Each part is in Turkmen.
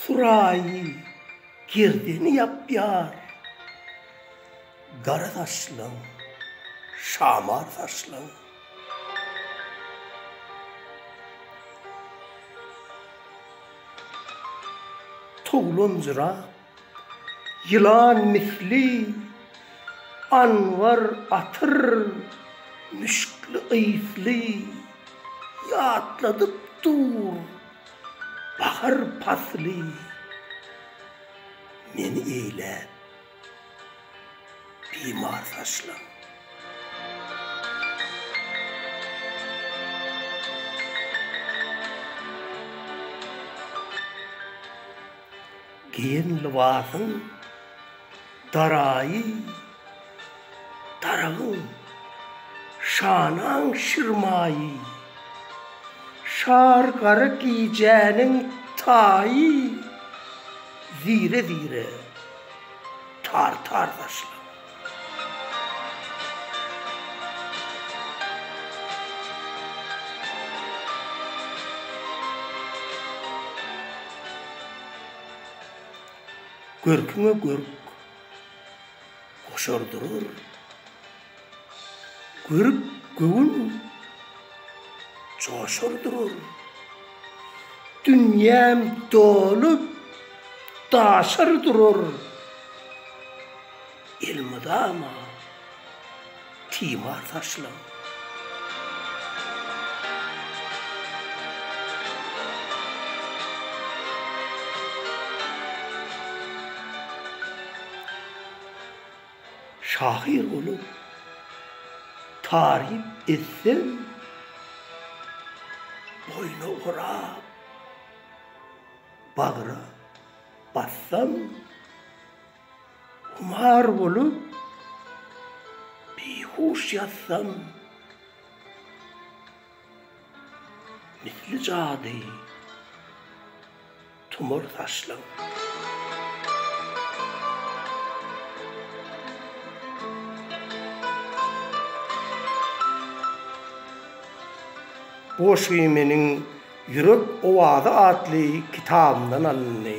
Suraýy gerdeni ýapýar. Gara saçlaň, şamar saçlaň. Towlanjyrap Ýylan misli Anwar atyr müşkli ysly Ýatladyp dur bahar pasly Meni eýläp bimar saçlaň. Geýen lybasyň daraýy daragyň şanaň şir maýy Şar gara gijäniň taýy Zire-zire tartar saçlaň. Görküňe görk goşar durar. Görüp göwün joşar durar. Dünýäm dolup daşar durar. elmydama timar saçlaň. Şahyr bolup taryp etseň boýna orap bagra bassaň. Humar bolup bihuş ýatsam Misli jady tumar saçlaň. Bu goşgy meniň Ýürek owazy atly kitabymdan alyndy.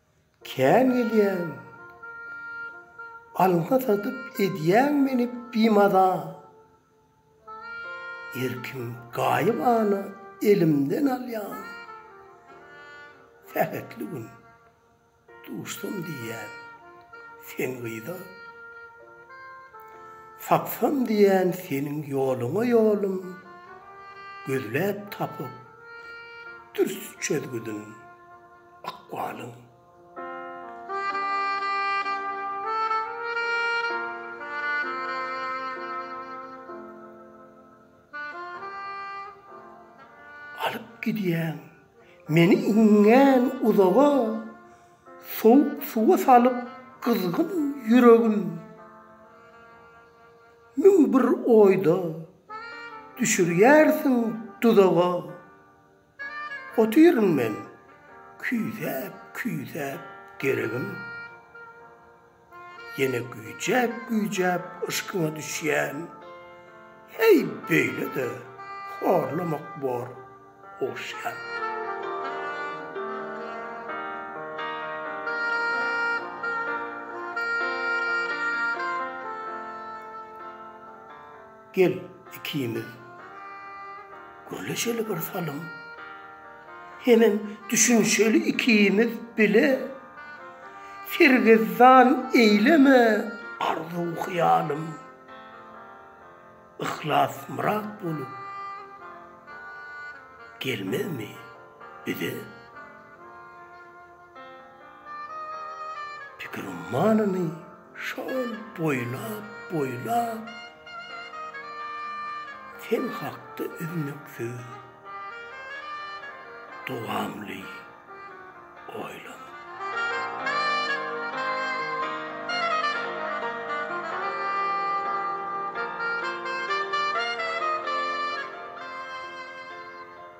Kän gelýäň. Alňa satyp edýäň meni bimaza. Erkim gaýybana elimden alýaň. Sähetli gün duşsam diýýän sen gyza. Tapsam diýýän seniň ýoluňa ýolum. Gözläp tapyp dürs çözgüdin. ykbalyň. Alyp gidýäň meni iňňän uzaga, Sowuk suwa salyp gyzgyn ýüregim. Müň bir oýda düşürýärsiň duzaga. Otyryn men küýsäp, küýsäp geregim, Ýene güýjäp, güýjäp yşkyňa düşýän. Heý, beýle-de horlamak bor ogşýan. Gel, ikimiz gürleşeli bir salym. Hemem düşünişeli ikimiz bile. Sergezdan eýleme arzuw-hyýalym. Yhlas myrat bolup gelmezmi bize? Pikir ummanyny şol boýlap, boýlap, sen hakda üznüksiz, dowamly oýlanyp.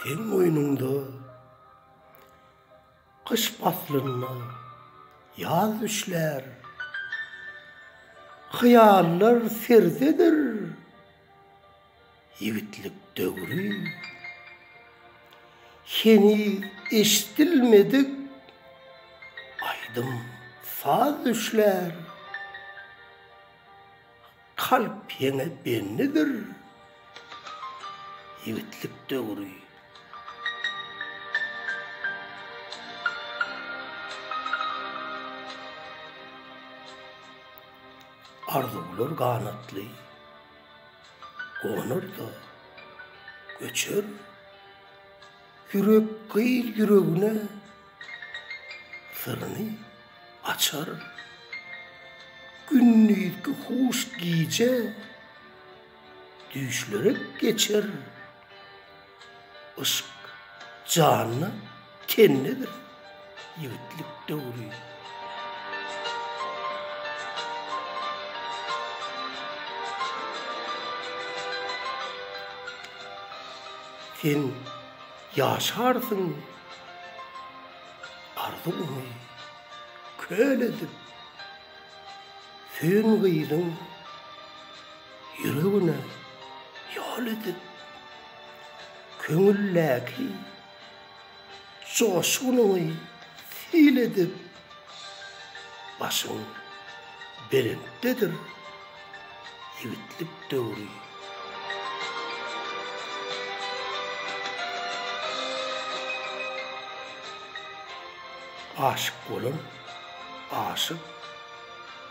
Sen moýnuňda gyş paslynda ýaz düşlär. Hyýallar serzedir. Ýigitlik döwri heniz eşidilmedik aýdym-saz düşlär. Kalp ýeňe bendidir. Ýigitlik döwri. Arzuwlar ganatly. Gonar-da, göçer. Ýürek gyz ýüregine syryny açar. Gündizki huş gije düýşlerek geçer. Yşk, janda, tendedir ýigitlik döwri. Sen ýaşarsyň arzuwyňy köl edip, söýen gyzyň. Ýüregine ýol edip, köňüldäki joşgunyňy sil edip, başyň belentdedir, ýigitlik döwri. Aşyk bolan aşyk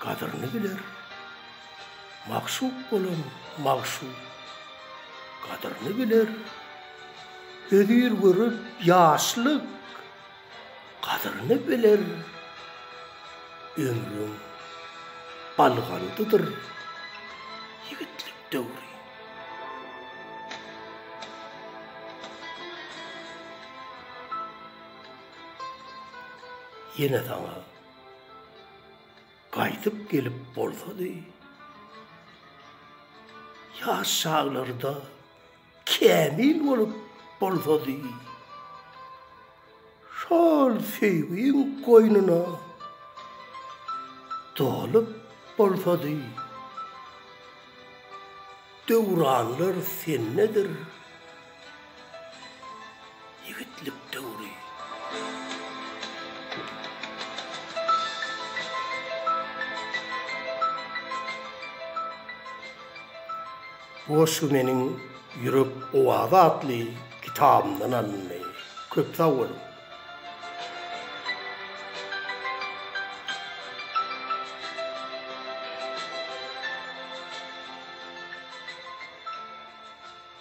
gadyryny biler. Magşuk bolan magşuk gadyryny biler, Hözir gören ýaşlyk gadyryny biler. Ömrüň algandydyr ýigitlik döwri. Ýene saňa Gaýdyp gelip bolsady, ýaş çaglarda kämil bolup bolsady, şol söýgiň goýnuna dolup bolsady, döwranlar sendedir. Ýigitlik döwri. Bu goşgy meniň Ýürek owazy atly kitabymdan alyndy. Köp sag boluň!